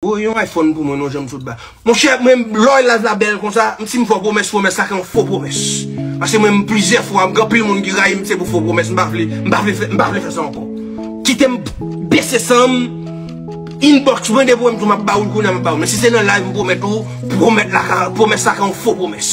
Bro yon iphone pou mwen non janm sot ba. Monchè mwen lòy live la bèl konsa m sim fò pwomès pwomès la yon fo pwomès pase mwen m plizyè fwa gen anpil moun ki rayim se pou fo pwomès m pa vle m pa vle m pa vle fè sa ankò kitem bese sanm inbox mwen depi wèm tou map bawou l kounya map bawou l men si se nan live m pwomèt ou pwomèt la ka pwomès la ka yon fo pwomès.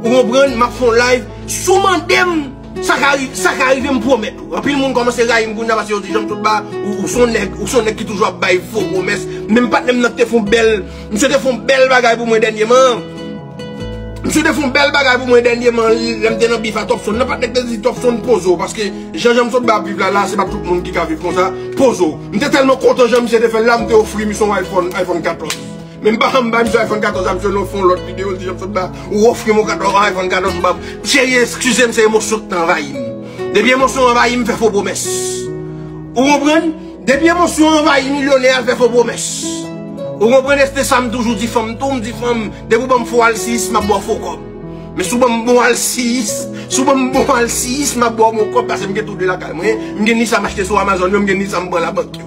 Ou konprann map fon live sou mandem sa ka rive sa ka rive m pwomèt ou anpil moun kòmanse rayim kounya paske yo di janm tout ba ou son nèg ou son nèg ki toujou ap bay fo pwomès menm patnèm nan ki te fon bèl misye te fon bèl bagay pou mwen dènyeman misye te fon bèl bagay pou mwen dènyeman lèm te nan bif a Topson nan patnè ki te di Topson poze w paske jan janm sot ba ap viv la la se pa tout moun ki ka viv konsa poze w m te tèlman kontan jan misye te fèl la m te ofri misye yon iphone iphone 14. Menm pa janm banm iphone 14 la misye lè w fè yon lòt video l di janm sot ba ou ofrim yon iphone 14 ou pa cheri eskizem se emosyon ki t anvayi m depi emosyon anvayi m fè fo pwomès ou konprann depi emosyon anvayi milyonè al fè fo pwomès ou konprann este sa m toujou di fanm tou m di fanm depi ou banm fo alsiyis m ap ba w fo kòb men si w banm bon alsiyis si w banm bon alsiyis m ap ba w bon kòb paske m gen tou de lakay mwen m gen ni sa m achte sou amazon yo m gen ni sa m pran labank yo.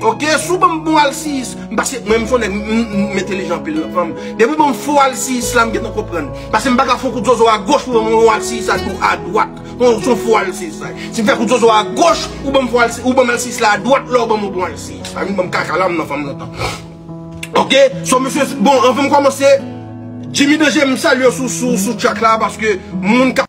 Ok sou banm bon alsiyis m pase mwen m son nèg m entelijan anpil nan fanm depi w banm fo alsiyis la m gentan konprann pase m paka fon kout zozo agoch pou banm yon alsiyis adwat non son fo alsiyis sa ye si m fè kout zozo agoch ou banm fo alsiyis ou banm alsiyis la adwat lè w banm yon bon alsiyis pa vin banm kaka la m nan fanm lontan ok so mesye bon anvan m kòmanse Jimmy Danger m salye w sou track la paske moun ka.